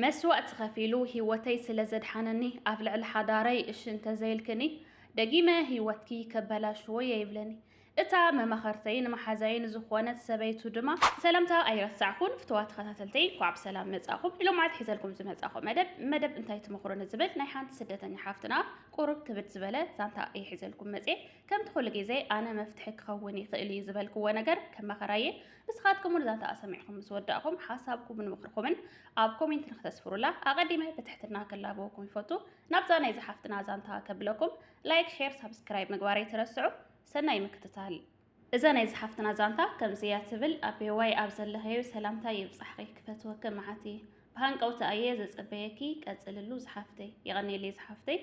መስዋእቲ ከፊሉ ሂወተይ ስለ ዘድሓነኒ ኣብ ልዕሊ ሓዳረይ እሺ እንተዘይልክኒ ደጊመ ሂወትኪ ከበላሽዎ እየ ይብለኒ እታ መማኸርተይን መሓዛይን ዝኾነት ሰበይቱ ድማ ሰላምታ ኣይረሳዕኩን ፍትዋ ተኸታተልተይ እንኳዕ ብሰላም መጻኹም ኢሎማዓት ሒዘልኩም ዝመጻኹ መደብ መደብ እንታይ ትመኽሮ ንዝብል ናይ ሓንቲ ስደተኛ ሓፍትና ቁሩብ ክብድ ዝበለ ዛንታ እየ ሒዘልኩም መጽየ ከምቲ ኩሉ ግዜ ኣነ መፍትሒ ክኸውን ይኽእል እዩ ዝበልክዎ ነገር ከማኸራየ ንስኻትኩም እውን እዛ ተኣ ሰሚዕኹም ምስ ወዳእኹም ሓሳብኩምን ምኽርኩምን ኣብ ኮሜንት ንክተስፍሩላ ኣቐዲመ ብትሕትና ክላበወኩም ይፈቱ። ናብዛ ናይ ዝሓፍትና ዛንታ ከብለኩም ላይክ፣ ሼር፣ ሳብስክራይብ ምግባር ኣይትረስዑ። ሰናይ ምክትታል። እዛ ናይ ዝሓፍትና ዛንታ ከምዚ እያ ትብል። ኣቤዋይ ኣብ ዘለኸዮ ሰላምታ ይብጻሕኺ ክፈትወኪ መዓት እየ ብሃንቀውቲ ኣየ ዘጸበየኪ ቀጽልሉ ዝሓፍተይ። የቐኔለይ ዝሓፍተይ።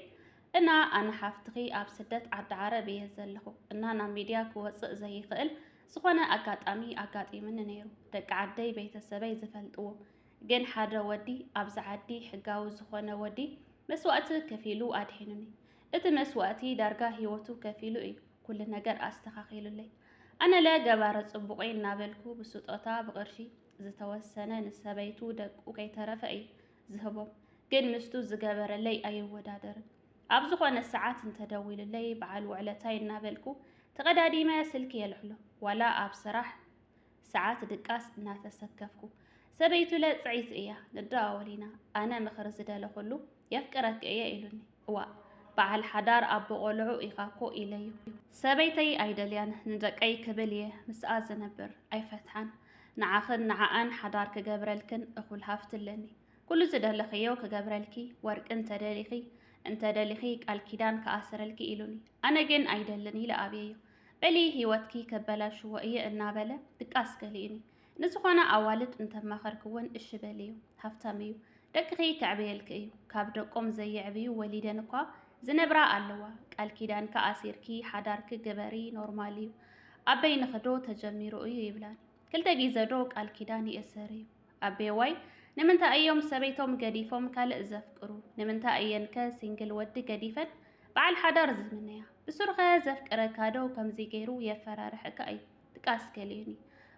እና ኣነ ሓፍትኺ ኣብ ስደት ዓዲ ዓረብ እየ ዘለኹ እና ናብ ሚድያ ክወጽእ ዘይኽእል ዝኾነ ኣጋጣሚ ኣጋጢምኒ ነይሩ ደቂ ዓደይ ቤተሰበይ ዝፈልጥዎ ግን ሓደ ወዲ ኣብዚ ዓዲ ሕጋዊ ዝኾነ ወዲ መስዋእቲ ከፊሉ ኣድሒኑኒ እቲ መስዋእቲ ዳርጋ ህይወቱ ከፊሉ እዩ ኩሉ ነገር ኣስተኻኺሉለይ ኣነለ ገባረ ጽቡቕ እናበልኩ ብስጦታ ብቕርሺ ዝተወሰነ ንሰበይቱ ደቁ ከይተረፈ እዩ ዝህቦም ግን ምስቱ ዝገበረለይ ኣይወዳደርን ኣብ ዝኾነ ሰዓት እንተደዊሉለይ በዓል ውዕለታይ እናበልኩ ተቐዳዲመ ስልኪ የልሕሎ ዋላ ኣብ ስራሕ ሰዓት ድቃስ እናተሰከፍኩ ሰበይቱ ለፅዒት እያ ንደዋወል ኢና ኣነ ምኽሪ ዝደለኹሉ የፍቅረኪ እየ ኢሉኒ እዋእ በዓል ሓዳር ኣቦ ቆልዑ ኢኻ እኮ ኢለዩ። ሰበይተይ ኣይደልያን ንደቀይ ክብል እየ ምስኣ ዝነብር ኣይፈትሓን። ንዓኽን ንዓኣን ሓዳር ክገብረልክን እኹል ሃፍቲ ኣለኒ። ኩሉ ዝደለኽዮ ክገብረልኪ፣ ወርቂ እንተ ደሊኺ እንተ ደሊኺ ቃል ኪዳን ክኣስረልኪ ኢሉኒ። ኣነ ግን ኣይደልን ኢለ ኣብየዮ። በሊ ህይወትኪ ከበላሽዎ እየ እናበለ ድቃስ ከሊኡኒ። ንዝኾና ኣዋልድ እንተማኸርክወን እሺ በልዮ። ሃፍታም እዩ። ደቅኺ ከዕብየልኪ እዩ። ካብ ደቆም ዘየዕብዩ ወሊደን እኳ ዝነብራ ኣለዋ። ቃል ኪዳንኪ ኣሲርኪ ሓዳርኪ ግበሪ ኖርማል እዩ። ኣብ በይንኺ ዶ ተጀሚሩ እዩ ይብላኒ። ክልተ ግዘ ዶ ቃል ኪዳን ይእሰር እዩ? ኣቤዋይ ንምንታይ እዮም ሰበይቶም ገዲፎም ካልእ ዘፍቅሩ? ንምንታይ እየን ከ ሲንግል ወዲ ገዲፈን በዓል ሓዳር ዝምነያ? ብሱሩ ከ ዘፍቅረካ ዶ ከምዚ ገይሩ የፈራርሐካ እዩ? ድቃስ ገሊኡኒ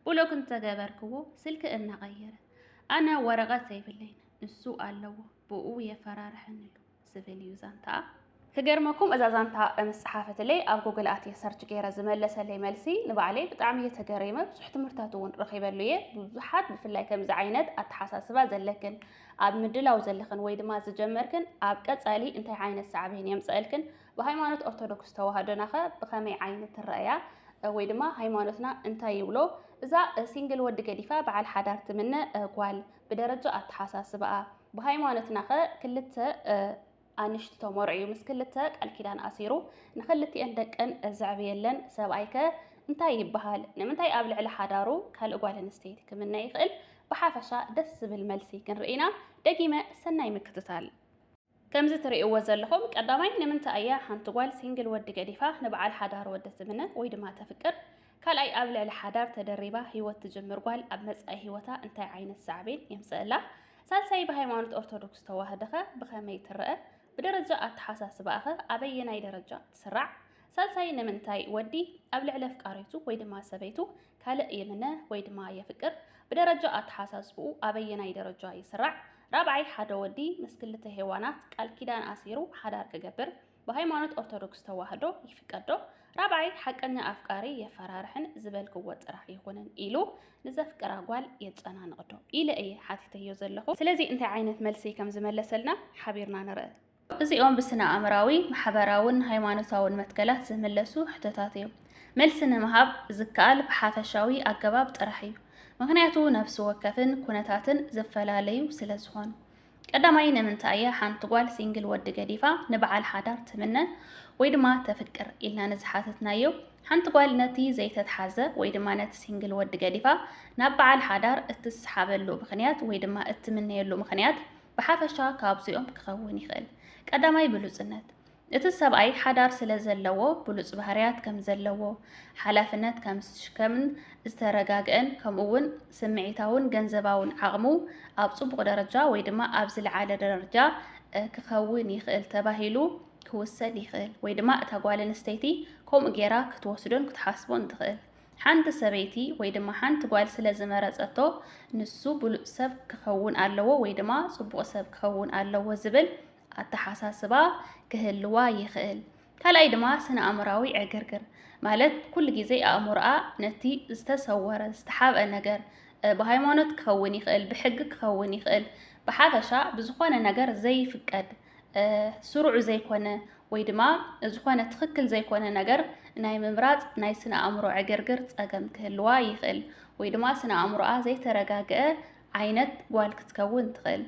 ብሎክ እንተገበርክዎ ስልኪ እናቐየረ ኣነ ወረቐት ዘይብለይን ንሱ ኣለዎ ብኡ የፈራርሐኒ ኣሎ። ዝብል እዩ ዛንታኣ። ክገርመኩም እዛ ዛንታ ምስ ጸሓፈትለይ ኣብ ጉግል ኣትየ ሰርች ገይረ ዝመለሰለይ መልሲ ንባዕለይ ብጣዕሚ እየ ተገሪመ ብዙሕ ትምህርታት እውን ረኺበሉ እየ ብዙሓት ብፍላይ ከምዚ ዓይነት ኣተሓሳስባ ዘለክን ኣብ ምድላው ዘለኽን ወይ ድማ ዝጀመርክን ኣብ ቀጻሊ እንታይ ዓይነት ሳዕቤን የምጸእልክን ብሃይማኖት ኦርቶዶክስ ተዋህዶናኸ ብኸመይ ዓይነት ትረኣያ ወይ ድማ ሃይማኖትና እንታይ ይብሎ እዛ ሲንግል ወዲ ገዲፋ በዓል ሓዳር ትምነ ጓል ብደረጃ ኣተሓሳስባኣ ብሃይማኖትናኸ ክልተ ኣንሽቲ ተመርዕዩ ምስ ክልተ ቃል ኪዳን ኣሲሩ ንክልቲኤን ደቀን ዘዕብየለን ሰብኣይከ እንታይ ይበሃል? ንምንታይ ኣብ ልዕሊ ሓዳሩ ካልእ ጓል ኣንስተይቲ ክምነ ይኽእል? ብሓፈሻ ደስ ዝብል መልሲ ክንርኢ ኢና። ደጊመ ሰናይ ምክትታል። ከምዚ ትሪእዎ ዘለኹም ቀዳማይ ንምንታይ እያ ሓንቲ ጓል ሲንግል ወዲ ገዲፋ ንበዓል ሓዳር ወዲ ትምነ ወይ ድማ ተፍቅር? ካልኣይ ኣብ ልዕሊ ሓዳር ተደሪባ ህይወት ትጅምር ጓል ኣብ መጻኢ ህይወታ እንታይ ዓይነት ሳዕቤን የምጽእላ? ሳልሳይ ብሃይማኖት ኦርቶዶክስ ተዋህድኸ ብኸመይ ትረአ? ብደረጃ ኣተሓሳስባኣኸ ኣበየናይ ደረጃ ትስራዕ? ሳልሳይ ንምንታይ ወዲ ኣብ ልዕሊ ኣፍቃሪቱ ወይ ድማ ሰበይቱ ካልእ ይምነ ወይ ድማ የፍቅር? ብደረጃ ኣተሓሳስብኡ ኣበየናይ ደረጃ ይስራዕ? ራብዓይ ሓደ ወዲ ምስ ክልተ ሄዋናት ቃል ኪዳን ኣሲሩ ሓዳር ክገብር ብሃይማኖት ኦርቶዶክስ ተዋህዶ ይፍቀዶ ራብዓይ ሓቀኛ ኣፍቃሪ የፈራርሕን ዝበልክዎ ጥራሕ ይኹንን ኢሉ ንዘፍቅራ ጓል የጨናንቕዶ ኢለ እየ ሓቲተዮ ዘለኹ ስለዚ እንታይ ዓይነት መልሲ ከም ዝመለሰልና ሓቢርና ንርእ እዚኦም ብስነ ኣእምራዊ ማሕበራውን ሃይማኖታውን መትከላት ዝምለሱ ሕቶታት እዮም። መልሲ ንምሃብ ዝከኣል ብሓፈሻዊ ኣገባብ ጥራሕ እዩ። ምክንያቱ ነፍሲ ወከፍን ኩነታትን ዝፈላለዩ ስለ ዝኾኑ። ቀዳማይ ንምንታይ እያ ሓንቲ ጓል ሲንግል ወዲ ገዲፋ ንበዓል ሓዳር ትምነ ወይ ድማ ተፍቅር ኢልና ንዝሓተትናዮ ሓንቲ ጓል ነቲ ዘይተትሓዘ ወይ ድማ ነቲ ሲንግል ወዲ ገዲፋ ናብ በዓል ሓዳር እትስሓበሉ ምክንያት ወይ ድማ እትምነየሉ ምክንያት ብሓፈሻ ካብዚኦም ክኸውን ይኽእል። ቀዳማይ ብሉጽነት እቲ ሰብኣይ ሓዳር ስለ ዘለዎ ብሉጽ ባህርያት ከም ዘለዎ፣ ሓላፍነት ከም ዝሽከምን ዝተረጋግኤን ከምኡ'ውን ስምዒታውን ገንዘባውን ዓቕሙ ኣብ ጽቡቕ ደረጃ ወይ ድማ ኣብ ዝልዓለ ደረጃ ክኸውን ይኽእል ተባሂሉ ክውሰድ ይኽእል ወይ ድማ እታ ጓል ኣንስተይቲ ከምኡ ጌራ ክትወስዶን ክትሓስቦን ትኽእል። ሓንቲ ሰበይቲ ወይ ድማ ሓንቲ ጓል ስለ ዝመረጸቶ ንሱ ብሉጽ ሰብ ክኸውን ኣለዎ ወይ ድማ ጽቡቕ ሰብ ክኸውን ኣለዎ ዝብል ኣተሓሳስባ ክህልዋ ይኽእል። ካልኣይ ድማ ስነ-ኣእምራዊ ዕግርግር ማለት ኩሉ ግዜ ኣእምሮኣ ነቲ ዝተሰወረ ዝተሓብአ ነገር ብሃይማኖት ክኸውን ይኽእል፣ ብሕጊ ክኸውን ይኽእል፣ ብሓፈሻ ብዝኾነ ነገር ዘይፍቀድ ስሩዕ ዘይኮነ ወይ ድማ ዝኾነ ትኽክል ዘይኮነ ነገር ናይ ምምራፅ ናይ ስነ ኣእምሮ ዕግርግር ፀገም ክህልዋ ይኽእል ወይ ድማ ስነ ኣእምሮኣ ዘይተረጋግአ ዓይነት ጓል ክትከውን ትኽእል።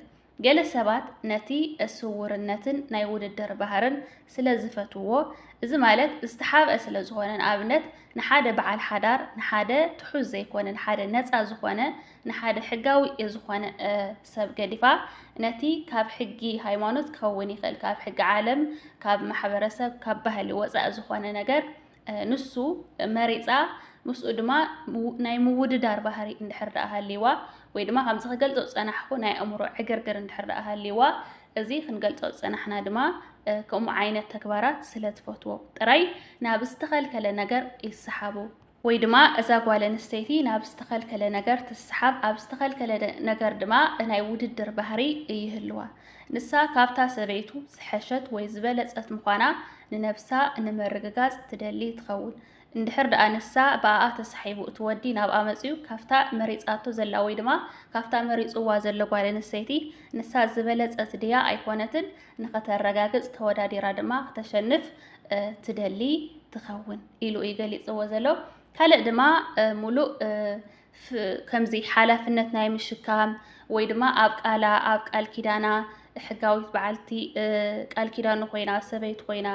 ገለ ሰባት ነቲ ስዉርነትን ናይ ውድድር ባህርን ስለ ዝፈትዉዎ፣ እዚ ማለት ዝተሓብኣ ስለ ዝኾነ፣ ንኣብነት ንሓደ በዓል ሓዳር፣ ንሓደ ትሑዝ ዘይኮነ፣ ንሓደ ነጻ ዝኾነ፣ ንሓደ ሕጋዊ ዝኾነ ሰብ ገዲፋ፣ ነቲ ካብ ሕጊ ሃይማኖት ክኸውን ይኽእል፣ ካብ ሕጊ ዓለም፣ ካብ ማሕበረሰብ፣ ካብ ባህሊ ወጻኢ ዝኾነ ነገር፣ ንሱ መሪጻ ምስኡ ድማ ናይ ምውድዳር ባህሪ እንድሕር ደኣ ሃልይዋ ወይ ድማ ከምዚ ክገልጾ ዝጸናሕኩ ናይ ኣእምሮ ዕግርግር እንድሕር ደኣ ሃልይዋ እዚ ክንገልጾ ዝጸናሕና ድማ ከምኡ ዓይነት ተግባራት ስለ ትፈትዎ ጥራይ ናብ ዝተኸልከለ ነገር ይሰሓቡ ወይ ድማ እዛ ጓል ኣንስተይቲ ናብ ዝተኸልከለ ነገር ትሰሓብ ኣብ ዝተኸልከለ ነገር ድማ ናይ ውድድር ባህሪ ይህልዋ ንሳ ካብታ ሰበይቱ ዝሐሸት ወይ ዝበለጸት ምዃና ንነብሳ ንምርግጋጽ ትደሊ ትኸውን። እንድሕር ደኣ ንሳ ብኣኣ ተሳሒቡ እቲ ወዲ ናብኣ መጺኡ ካብታ መሪጻቶ ዘላ ወይ ድማ ካብታ መሪጽዋ ዘሎ ጓል ኣንስተይቲ ንሳ ዝበለጸት ድያ ኣይኮነትን ንኸተረጋግጽ ተወዳዲራ ድማ ክተሸንፍ ትደሊ ትኸውን ኢሉ እዩ ገሊጽዎ ዘሎ። ካልእ ድማ ሙሉእ ከምዚ ሓላፍነት ናይ ምሽካም ወይ ድማ ኣብ ቃላ ኣብ ቃል ኪዳና ሕጋዊት በዓልቲ ቃል ኪዳኑ ኮይና ሰበይቲ ኮይና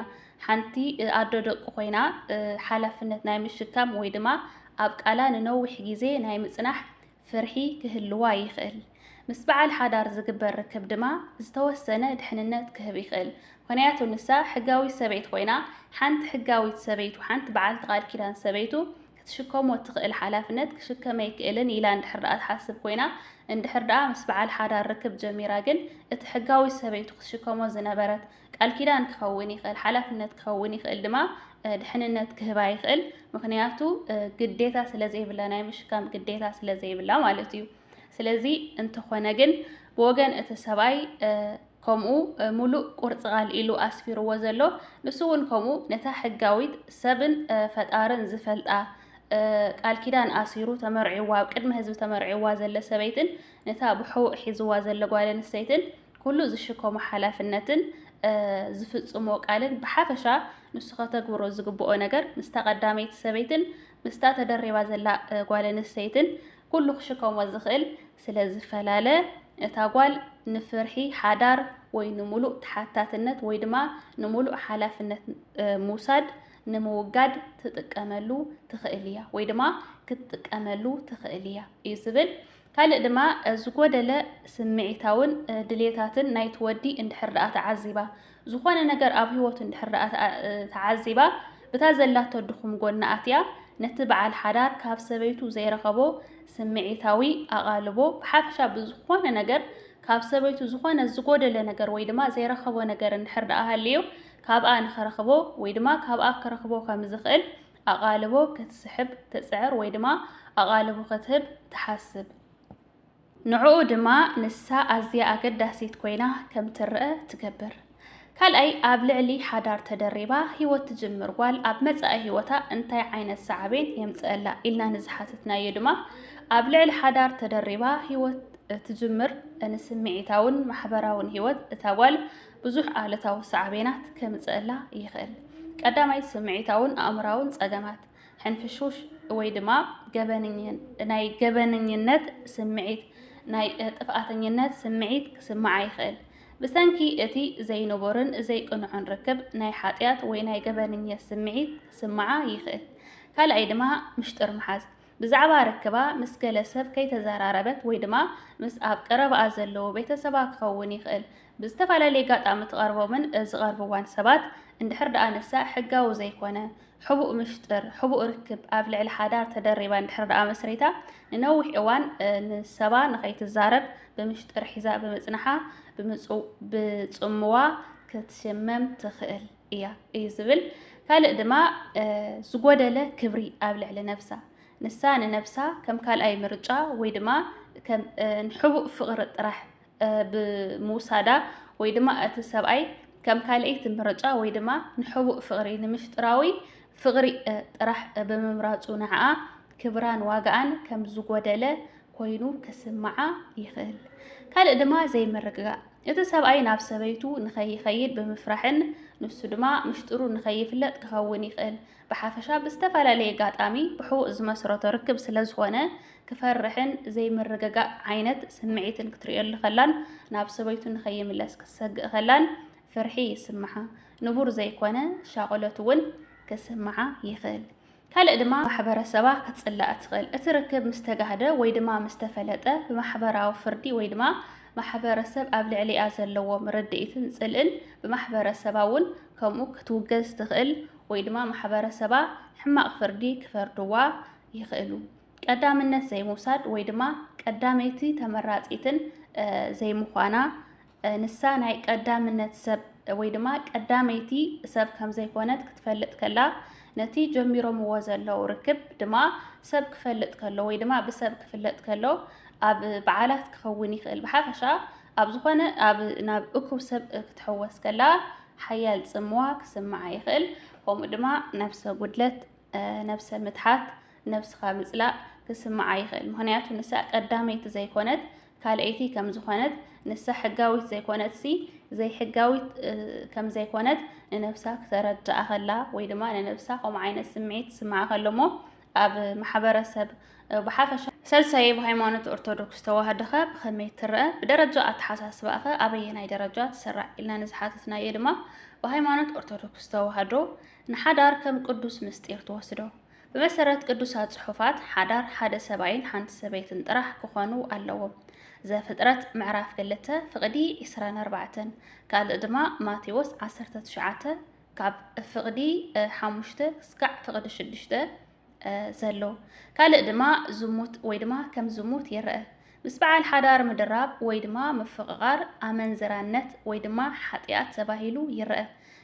ሓንቲ ኣዶ ደቁ ኮይና ሓላፍነት ናይ ምሽካም ወይ ድማ ኣብ ቃላ ንነዊሕ ግዜ ናይ ምጽናሕ ፍርሒ ክህልዋ ይኽእል። ምስ በዓል ሓዳር ዝግበር ርክብ ድማ ዝተወሰነ ድሕንነት ክህብ ይኽእል። ምክንያቱ ንሳ ሕጋዊት ሰበይት ኮይና ሓንቲ ሕጋዊት ሰበይቱ ሓንቲ በዓልቲ ቃል ኪዳን ሰበይቱ ክትሽከሞ እትኽእል ሓላፍነት ክሽከም ኣይክእልን ኢላ እንድሕር ደኣ ትሓስብ ኮይና፣ እንድሕር ደኣ ምስ በዓል ሓዳር ርክብ ጀሚራ ግን፣ እቲ ሕጋዊት ሰበይቱ ክትሽከሞ ዝነበረት፣ ቃል ኪዳን ክኸውን ይኽእል፣ ሓላፍነት ክኸውን ይኽእል ድማ ድሕንነት ክህባ ይኽእል፣ ምኽንያቱ ግዴታ ስለዘይብላ፣ ናይ ምሽካም ግዴታ ስለዘይብላ ማለት እዩ። ስለዚ እንተኾነ ግን ብወገን እቲ ሰብኣይ ከምኡ ሙሉእ ቁርፂ ቃል ኢሉ ኣስፊርዎ ዘሎ ንሱ እውን ከምኡ ነታ ሕጋዊት ሰብን ፈጣርን ዝፈልጣ ቃል ኪዳን ኣሲሩ ተመርዒዋ ኣብ ቅድሚ ህዝቢ ተመርዒዋ ዘለ ሰበይትን ነታ ብሕውእ ሒዝዋ ዘለ ጓል ኣንስተይትን ኩሉ ዝሽከሞ ሓላፍነትን ዝፍጽሞ ቃልን ብሓፈሻ ንሱ ከተግብሮ ዝግብኦ ነገር ምስታ ቀዳመይቲ ሰበይትን ምስታ ተደሪባ ዘላ ጓል ኣንስተይትን ኩሉ ክሽከሞ ዝኽእል ስለ ዝፈላለ፣ እታ ጓል ንፍርሒ ሓዳር ወይ ንምሉእ ተሓታትነት ወይ ድማ ንምሉእ ሓላፍነት ምውሳድ ንምውጋድ ትጥቀመሉ ትኽእል እያ ወይ ድማ ክትጥቀመሉ ትኽእል እያ እዩ ዝብል። ካልእ ድማ ዝጎደለ ስምዒታውን ድሌታትን ናይቲ ወዲ እንድሕር ደኣ ተዓዚባ ዝኾነ ነገር ኣብ ህይወቱ እንድሕር ደኣ ተዓዚባ ብታ ዘላቶ ድኹም ጎና ኣትያ ነቲ በዓል ሓዳር ካብ ሰበይቱ ዘይረኸቦ ስምዒታዊ ኣቓልቦ ብሓፈሻ ብዝኾነ ነገር ካብ ሰበይቱ ዝኾነ ዝጎደለ ነገር ወይ ድማ ዘይረኸቦ ነገር እንድሕር ደኣ ሃልዩ ካብኣ ንኸረኽቦ ወይ ድማ ካብኣ ክረኽቦ ከም ዝኽእል ኣቓልቦ ክትስሕብ ትጽዕር ወይ ድማ ኣቓልቦ ክትህብ ትሓስብ። ንዕኡ ድማ ንሳ ኣዝያ ኣገዳሲት ኮይና ከም ትረኣ ትገብር። ካልኣይ፣ ኣብ ልዕሊ ሓዳር ተደሪባ ህይወት ትጅምር ጓል ኣብ መጻኢ ህይወታ እንታይ ዓይነት ሳዕቤን የምጽኣላ ኢልና ንዝሓተትናዮ ድማ ኣብ ልዕሊ ሓዳር ተደሪባ ህይወት ትጅምር ንስምዒታውን ማሕበራውን ህይወት እታ ጓል ብዙሕ ኣሉታዊ ሳዕቤናት ከምጽእላ ይኽእል። ቀዳማይ፣ ስምዒታውን ኣእምራውን ጸገማት ሕንፍሽውሽ ወይ ድማ ናይ ገበነኝነት ስምዒት፣ ናይ ጥፍኣተኝነት ስምዒት ክስምዓ ይኽእል። ብሰንኪ እቲ ዘይንቡርን ዘይቅኑዕን ርክብ፣ ናይ ሓጢኣት ወይ ናይ ገበነኝነት ስምዒት ክስምዓ ይኽእል። ካልኣይ ድማ ምሽጥር ምሓዝ፣ ብዛዕባ ርክባ ምስ ገለ ሰብ ከይተዘራረበት ወይ ድማ ምስ ኣብ ቀረባኣ ዘለዉ ቤተሰባ ክኸውን ይኽእል። ብዝተፈላለየ ኣጋጣሚ ትቐርቦምን ዝቐርብዋን ሰባት፣ እንድሕር ደኣ ንሳ ሕጋዊ ዘይኮነ ሕቡእ ምሽጥር፣ ሕቡእ ርክብ ኣብ ልዕሊ ሓዳር ተደሪባ እንድሕር ደኣ መስሪታ ንነዊሕ እዋን ምስ ሰባ ንኸይትዛረብ ብምሽጥር ሒዛ ብምጽናሓ ብጽምዋ ክትሽመም ትኽእል እያ እዩ ዝብል። ካልእ ድማ ዝጎደለ ክብሪ ኣብ ልዕሊ ነብሳ ንሳ ንነብሳ ከም ካልኣይ ምርጫ ወይ ድማ ከም ንሕቡእ ፍቕሪ ጥራሕ ብምውሳዳ ወይ ድማ እቲ ሰብኣይ ከም ካልኣይቲ ምርጫ ወይ ድማ ንሕቡእ ፍቕሪ ንምፍጥራዊ ፍቕሪ ጥራሕ ብምምራፁ ንዓኣ ክብራን ዋጋኣን ከም ዝጎደለ ኮይኑ ክስምዓ ይኽእል። ካልእ ድማ ዘይምርግጋእ እቲ ሰብኣይ ናብ ሰበይቱ ንኸይኸይድ ብምፍራሕን ንሱ ድማ ምሽጥሩ ንኸይፍለጥ ክኸውን ይኽእል። ብሓፈሻ ብዝተፈላለየ ኣጋጣሚ ብሕቡእ ዝመስረቶ ርክብ ስለ ዝኾነ ክፈርሕን ዘይምርግጋእ ዓይነት ስምዒትን ክትርእየሉ ከላን ናብ ሰበይቱ ንኸይምለስ ክትሰግእ ከላን ፍርሒ ይስምዓ። ንቡር ዘይኮነ ሻቕሎት እውን ክስምዓ ይኽእል። ካልእ ድማ ማሕበረሰባ ክትጽላእ ትኽእል። እቲ ርክብ ምስ ተጋህደ ወይ ድማ ምስ ተፈለጠ ብማሕበራዊ ፍርዲ ወይ ድማ ማሕበረሰብ ኣብ ልዕሊኣ ዘለዎም ርድኢትን ጽልእን ብማሕበረሰባ እውን ከምኡ ክትውገዝ ትኽእል ወይ ድማ ማሕበረሰባ ሕማቕ ፍርዲ ክፈርድዋ ይኽእሉ። ቀዳምነት ዘይምውሳድ ወይ ድማ ቀዳመይቲ ተመራፂትን ዘይምዃና ንሳ ናይ ቀዳምነት ሰብ ወይ ድማ ቀዳመይቲ ሰብ ከም ዘይኮነት ክትፈልጥ ከላ ነቲ ጀሚሮምዎ ዘለዉ ርክብ ድማ ሰብ ክፈልጥ ከሎ ወይ ድማ ብሰብ ክፍለጥ ከሎ ኣብ በዓላት ክኸውን ይኽእል። ብሓፈሻ ኣብ ዝኾነ ኣብ ናብ እኩብ ሰብ ክትሕወስ ከላ ሓያል ጽምዋ ክስምዓ ይኽእል፣ ከምኡ ድማ ነብሰ ጉድለት፣ ነብሰ ምትሓት፣ ነብስኻ ምጽላእ ክስምዓ ይኽእል። ምኽንያቱ ንሳ ቀዳመይቲ ዘይኮነት ካልኣይቲ ከም ዝኾነት፣ ንሳ ሕጋዊት ዘይኮነትሲ ዘይሕጋዊት ከም ዘይኮነት ንነብሳ ክተረድኣ ከላ ወይ ድማ ንነብሳ ከምኡ ዓይነት ስምዒት ክስምዓ ከሎ እሞ ኣብ ማሕበረሰብ ብሓፈሻ ሰልሳይ ብ ሃይማኖት ኦርቶዶክስ ተዋህዶ ከ ብኸመይ ትረኣ? ብደረጃ ኣተሓሳስባኣ ከ ኣበየናይ ደረጃ ትስራዕ? ኢልና ንዝሓተትናዮ ድማ ብሃይማኖት ኦርቶዶክስ ተዋህዶ ንሓዳር ከም ቅዱስ ምስጢር ትወስዶ። ብመሰረት ቅዱሳት ጽሑፋት ሓዳር ሓደ ሰብኣይን ሓንቲ ሰበይትን ጥራሕ ክኾኑ ኣለዎም። ዘፍጥረት ምዕራፍ ክልተ ፍቕዲ ዕስራን ኣርባዕተን ካልእ ድማ ማቴዎስ ዓሰርተ ትሽዓተ ካብ ፍቕዲ ሓሙሽተ ክስካዕ ፍቕዲ ሽዱሽተ ዘሎ ካልእ ድማ ዝሙት ወይ ድማ ከም ዝሙት ይረአ። ምስ በዓል ሓዳር ምድራብ ወይ ድማ ምፍቕቓር ኣመንዝራነት ወይ ድማ ሓጢኣት ተባሂሉ ይረኣ።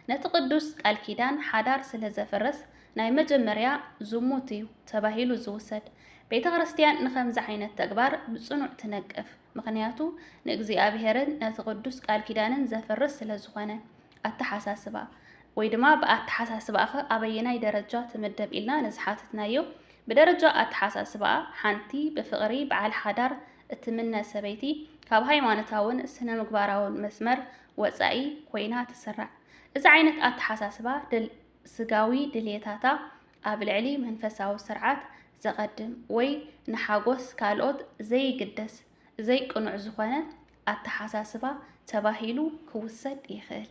ነቲ ቅዱስ ቃል ኪዳን ሓዳር ስለ ዘፍርስ ናይ መጀመርያ ዝሙት እዩ ተባሂሉ ዝውሰድ። ቤተ ክርስትያን ንኸምዚ ዓይነት ተግባር ብጽኑዕ ትነቅፍ። ምኽንያቱ ንእግዚኣብሔርን ነቲ ቅዱስ ቃል ኪዳንን ዘፍርስ ስለ ዝኾነ። ኣተሓሳስባ ወይ ድማ ብኣተሓሳስባኸ ኣበየናይ ደረጃ ትምደብ ኢልና ንዝሓትትናዮ ብደረጃ ኣተሓሳስባ ሓንቲ ብፍቕሪ በዓል ሓዳር እትምነ ሰበይቲ ካብ ሃይማኖታውን ስነ ምግባራውን መስመር ወፃኢ ኮይና ትስራዕ። እዚ ዓይነት ኣተሓሳስባ ስጋዊ ድልየታታ ኣብ ልዕሊ መንፈሳዊ ስርዓት ዘቐድም ወይ ንሓጐስ ካልኦት ዘይግደስ ዘይቅኑዕ ዝኾነ ኣተሓሳስባ ተባሂሉ ክውሰድ ይኽእል።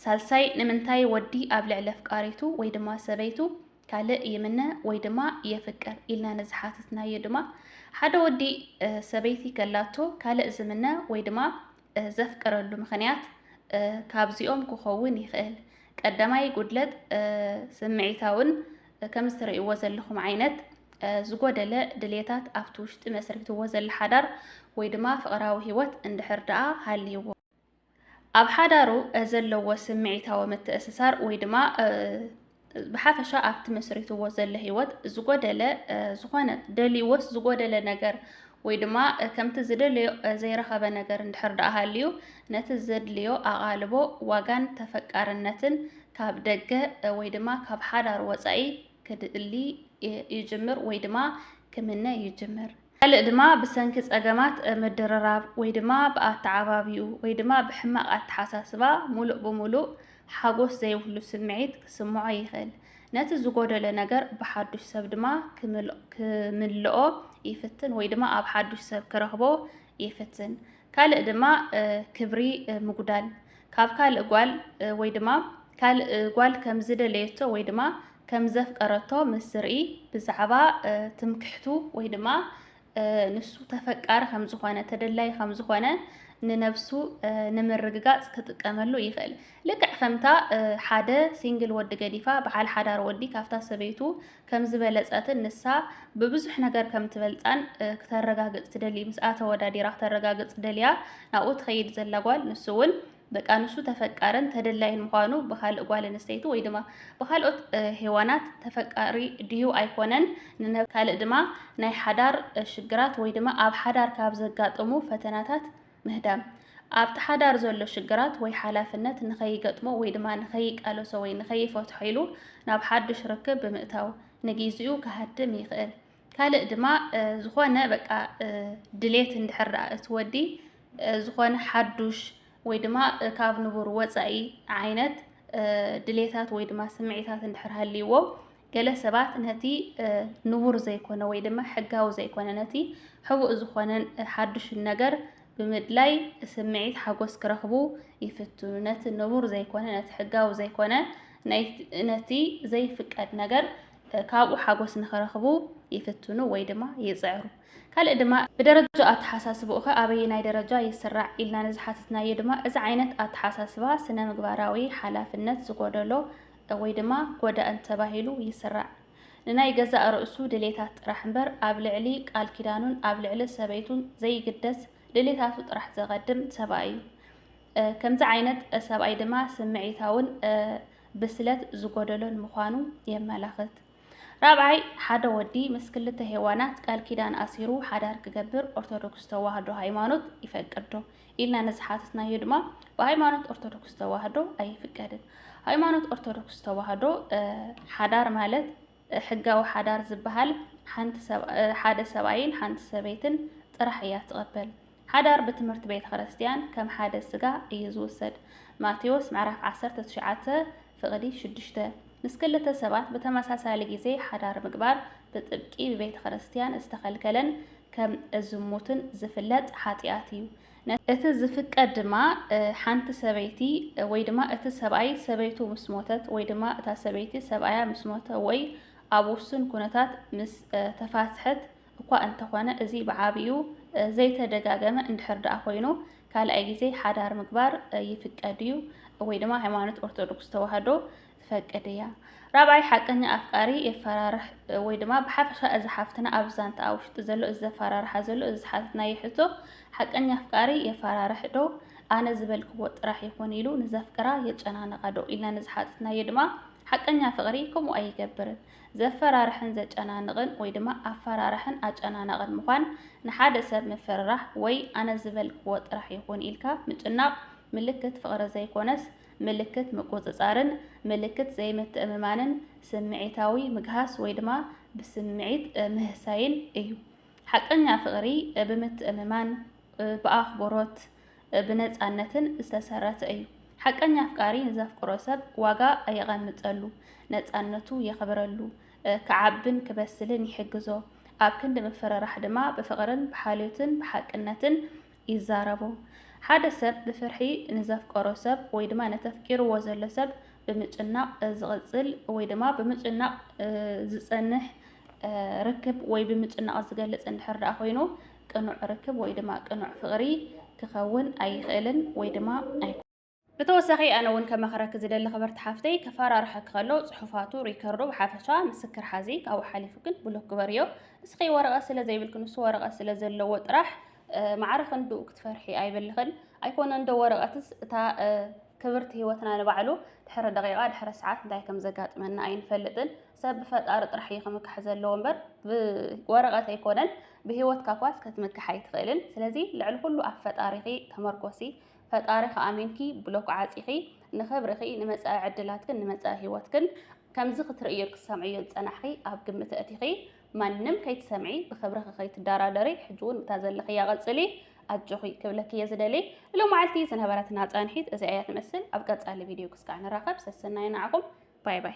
ሳልሳይ ንምንታይ ወዲ ኣብ ልዕሊ ኣፍቃሪቱ ወይ ድማ ሰበይቱ ካልእ ይምነ ወይ ድማ የፍቅር ኢልና ንዝሓትትናዮ ድማ ሓደ ወዲ ሰበይቲ ከላቶ ካልእ ዝምነ ወይ ድማ ዘፍቅረሉ ምኽንያት ካብዚኦም ክኸውን ይኽእል። ቀዳማይ ጉድለት ስምዒታውን ከምዚ ትርእይዎ ዘለኹም ዓይነት ዝጎደለ ድሌታት ኣብቲ ውሽጢ መስሪትዎ ዘለ ሓዳር ወይ ድማ ፍቕራዊ ህይወት እንድሕር ደኣ ሃልይዎ ኣብ ሓዳሩ ዘለዎ ስምዒታዊ ምትእስሳር ወይ ድማ ብሓፈሻ ኣብ ትመስሪትዎ ዘሎ ህይወት ዝጎደለ ዝኾነ ደልይዎስ ዝጎደለ ነገር ወይ ድማ ከምቲ ዝደለዮ ዘይረኸበ ነገር እንድሕር ደኣ ሃልዩ ነቲ ዘድልዮ ኣቓልቦ ዋጋን ተፈቃርነትን ካብ ደገ ወይ ድማ ካብ ሓዳር ወፃኢ ክድሊ ይጅምር ወይ ድማ ክምነ ይጅምር። ካልእ ድማ ብሰንኪ ጸገማት ምድርራብ ወይ ድማ ብኣተዓባብይኡ ወይ ድማ ብሕማቕ ኣተሓሳስባ ሙሉእ ብሙሉእ ሓጎስ ዘይብሉ ስምዒት ክስምዖ ይኽእል። ነቲ ዝጎደለ ነገር ብሓዱሽ ሰብ ድማ ክምልኦ ይፍትን ወይ ድማ ኣብ ሓዱሽ ሰብ ክረኽቦ ይፍትን። ካልእ ድማ ክብሪ ምጉዳል ካብ ካልእ ጓል ወይ ድማ ካልእ ጓል ከም ዝደለየቶ ወይ ድማ ከም ዘፍቀረቶ ምስ ዝርኢ ብዛዕባ ትምክሕቱ ወይ ድማ ንሱ ተፈቃሪ ከም ዝኾነ ተደላይ ከም ዝኾነ ንነብሱ ንምርግጋጽ ክጥቀመሉ ይኽእል። ልክዕ ከምታ ሓደ ሲንግል ወዲ ገዲፋ በዓል ሓዳር ወዲ ካብታ ሰበይቱ ከም ዝበለጸትን ንሳ ብብዙሕ ነገር ከም ትበልጻን ክተረጋግጽ ትደሊ ምስኣ ተወዳዲራ ክተረጋግጽ ደልያ ናብኡ ትኸይድ ዘላ ጓል ንሱ እውን ደቂ ኣንስትዩ ተፈቃርን ተደላይን ምዃኑ ብካልእ ጓል ኣንስተይቲ ወይ ድማ ብካልኦት ሄዋናት ተፈቃሪ ድዩ ኣይኮነን ንነብ ካልእ ድማ ናይ ሓዳር ሽግራት ወይ ድማ ኣብ ሓዳር ካብ ዘጋጥሙ ፈተናታት ምህዳም ኣብቲ ሓዳር ዘሎ ሽግራት ወይ ሓላፍነት ንኸይገጥሞ ወይ ድማ ንኸይቃለሶ ወይ ንኸይፈትሖ ኢሉ ናብ ሓዱሽ ርክብ ብምእታው ንጊዜኡ ክሃድም ይኽእል። ካልእ ድማ ዝኾነ በቃ ድሌት እንድሕር ደኣ እቲ ወዲ ዝኾነ ሓዱሽ ወይ ድማ ካብ ንቡር ወፃኢ ዓይነት ድሌታት ወይ ድማ ስምዒታት እንድሕር ሃልይዎ ገለ ሰባት ነቲ ንቡር ዘይኮነ ወይ ድማ ሕጋዊ ዘይኮነ ነቲ ሕቡእ ዝኾነን ሓዱሽን ነገር ብምድላይ ስምዒት ሓጎስ ክረኽቡ ይፍትኑ። ነቲ ንቡር ዘይኮነ ነቲ ሕጋዊ ዘይኮነ ነቲ ዘይፍቀድ ነገር ካብኡ ሓጎስ ንክረኽቡ ይፍትኑ ወይ ድማ ይጽዕሩ። ካልእ ድማ ብደረጃ ኣተሓሳስባኡኸ ኣበየናይ ደረጃ ይስራዕ ኢልና ንዝሓተትናዮ ድማ እዚ ዓይነት ኣተሓሳስባ ስነ-ምግባራዊ ሓላፍነት ዝጎደሎ ወይ ድማ ጎዳእን ተባሂሉ ይስራዕ። ንናይ ገዛእ ርእሱ ድሌታት ጥራሕ እምበር ኣብ ልዕሊ ቃል ኪዳኑን ኣብ ልዕሊ ሰበይቱን ዘይግደስ ድሌታቱ ጥራሕ ዘቐድም ሰብኣይ እዩ። ከምዚ ዓይነት ሰብኣይ ድማ ስምዒታውን ብስለት ዝጎደሎን ምዃኑ የመላኽት። ራብዓይ፣ ሓደ ወዲ ምስ ክልተ ሄዋናት ቃል ኪዳን ኣሲሩ ሓዳር ክገብር ኦርቶዶክስ ተዋህዶ ሃይማኖት ይፈቅድዶ ኢልና ንዝሓተትናዮ ድማ ብሃይማኖት ኦርቶዶክስ ተዋህዶ ኣይፍቀድን። ሃይማኖት ኦርቶዶክስ ተዋህዶ ሓዳር ማለት ሕጋዊ ሓዳር ዝበሃል ሓደ ሰብኣይን ሓንቲ ሰበይትን ጥራሕ እያ ትቐበል። ሓዳር ብትምህርቲ ቤተ ክርስቲያን ከም ሓደ ስጋ እዩ ዝውሰድ፣ ማቴዎስ ምዕራፍ ዓሰርተ ትሽዓተ ፍቕዲ ሽዱሽተ። ምስ ክልተ ሰባት ብተመሳሳሊ ግዜ ሓዳር ምግባር ብጥብቂ ብቤተ ክርስቲያን ዝተኸልከለን ከም እዝሙትን ዝፍለጥ ሓጢኣት እዩ። እቲ ዝፍቀድ ድማ ሓንቲ ሰበይቲ ወይ ድማ እቲ ሰብኣይ ሰበይቱ ምስ ሞተት ወይ ድማ እታ ሰበይቲ ሰብኣያ ምስ ሞተ ወይ ኣብ ውሱን ኩነታት ምስ ተፋትሐት እኳ እንተኾነ እዚ ብዓቢኡ ዘይተደጋገመ እንድሕር ደኣ ኮይኑ ካልኣይ ግዜ ሓዳር ምግባር ይፍቀድ እዩ ወይ ድማ ሃይማኖት ኦርቶዶክስ ተዋህዶ ትፈቅድ እያ። ራብዓይ ሓቀኛ ኣፍቃሪ የፈራርሕ ወይ ድማ ብሓፈሻ እዚ ሓፍትና ኣብ ዛንታኣ ውሽጢ ዘሎ እዚ ዘፈራርሓ ዘሎ እዚ ዝሓተትናዮ ሕቶ ሓቀኛ ኣፍቃሪ የፈራርሕ ዶ ኣነ ዝበልክዎ ጥራሕ ይኹን ኢሉ ንዘፍቅራ የጨናንቓ ዶ ኢልና ንዝሓተትናዮ ድማ ሓቀኛ ፍቕሪ ከምኡ ኣይገብርን። ዘፈራርሕን ዘጨናንቕን ወይ ድማ ኣፈራርሕን ኣጨናናቕን ምዃን ንሓደ ሰብ ምፍርራሕ ወይ ኣነ ዝበልክዎ ጥራሕ ይኹን ኢልካ ምጭናቕ ምልክት ፍቕሪ ዘይኮነስ ምልክት ምቁጽጻርን ምልክት ዘይምትእምማንን ስምዒታዊ ምግሃስ ወይ ድማ ብስምዒት ምህሳይን እዩ። ሓቀኛ ፍቕሪ ብምትእምማን፣ ብኣኽብሮት፣ ብነጻነትን ዝተሰረተ እዩ። ሓቀኛ ኣፍቃሪ ንዘፍቅሮ ሰብ ዋጋ የቐምጠሉ፣ ነጻነቱ የኽብረሉ፣ ክዓብን ክበስልን ይሕግዞ፣ ኣብ ክንዲ ምፍርራሕ ድማ ብፍቕርን ብሓልዮትን ብሓቅነትን ይዛረቡ። ሓደ ሰብ ብፍርሒ ንዘፍቀሮ ሰብ ወይ ድማ ነቲ ኣፍቂርዎ ዘሎ ሰብ ብምጭናቕ ዝቕጽል ወይ ድማ ብምጭናቕ ዝጸንሕ ርክብ ወይ ብምጭናቕ ዝገልጽ እንድሕር ደኣ ኮይኑ ቅኑዕ ርክብ ወይ ድማ ቅኑዕ ፍቕሪ ክኸውን ኣይኽእልን ወይ ድማ ኣይኮነን። ብተወሳኺ ኣነ እውን ከማኽረኪ ዝደሊ ክብርቲ ሓፍተይ ከፈራርሐኪ ከሎ ፅሑፋቱ ሪከርዶ ብሓፈሻ ምስክር ሓዚ ካብኡ ሓሊፉ ግን ብሎክ ግበርዮ እስኺ ወረቐት ስለ ዘይብልኪ ንሱ ወረቐት ስለ ዘለዎ ጥራሕ ማዕረ ክንድኡ ክትፈርሒ ኣይበልኽን ኣይኮነን ዶ ወረቐትስ እታ ክብርቲ ህይወትና ንባዕሉ ድሕሪ ደቂቓ ድሕሪ ሰዓት እንታይ ከም ዘጋጥመና ኣይንፈልጥን ሰብ ብፈጣሪ ጥራሕ እዩ ክምካሕ ዘለዎ እምበር ብወረቐት ኣይኮነን ብህይወትካ ኳስ ከትምካሕ ኣይትኽእልን ስለዚ ልዕሊ ኩሉ ኣብ ፈጣሪኺ ተመርኮሲ ፈጣሪኺ ኣሚንኪ ብሎክ ዓፂኺ ንኽብርኺ፣ ንመፃኢ ዕድላትክን ንመፃኢ ህይወትክን ከምዚ ክትርእይዮን ክትሰምዕዮን ዝፀናሕኺ ኣብ ግምት ኣእቲኺ ማንም ከይትሰምዒ ብኽብርኺ ከይትደራደሪ ሕጂ እውን ብታ ዘለኽያ ቐፅሊ ኣጆኺ ክብለኪ እየ ዝደሊ። ንሎማዓልቲ ዝነበረትና ፃንሒት እዚኣ እያ ትመስል። ኣብ ቀፃሊ ቪድዮ ክስካዕ ንራኸብ። ሰሰናዩ ንዓኹም። ባይ ባይ።